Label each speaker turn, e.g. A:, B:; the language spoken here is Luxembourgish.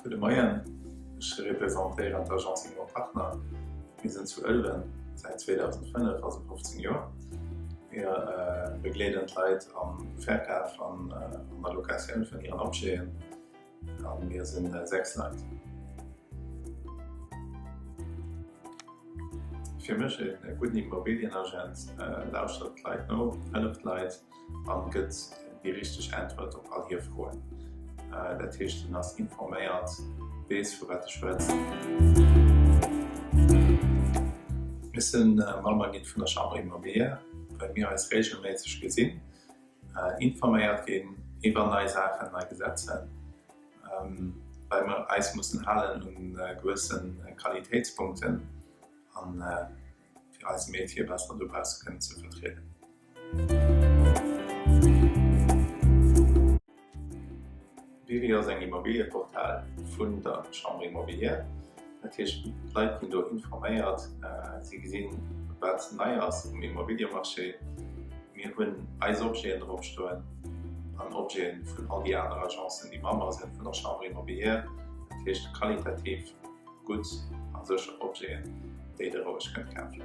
A: Gudde Moien, ech representéieren d'Agence Immo Partner. Mir sinn zu Ëlwen säit 2005, also 15 Joer. Mir begleeden d'Leit am Verkaf an an der Locatioun vun hiren Objeten. A mir sinn der 6 Leit. Fir mech ee gudden Immobilienagent, lauschtert d'Leit no, hëlleft d'Leit a gëtt déi richteg Äntwert op all hir Froen. Dat heescht en ass informéiert, weess vu wat e schwëtzt. Mir si Member gi vun der Chambre Immobilière, well mir eis reegelméisseg gesinn. Informéiert ginn iwwer nei Saachen, nei Gesetzen, well mer eis mussen halen u gewësse Qualitéitspunkten, a fir eise Métier besser dobausse kënnen ze vertrieden. Biwi ass eng Immobiliëportal vun der Chambre Immobilière. Dat heescht d'Leit ginn do informéiert, si gesinn wat nei ass um Immobiliëmarché. Mir hunn eis Objeten drop stoen an Objeten vun all déi aner Agencen déi Member sinn vun der Chambre Immobilière. Dat heescht qualitativ gutt a sécher Objeten déi der roueg kënnt kafen.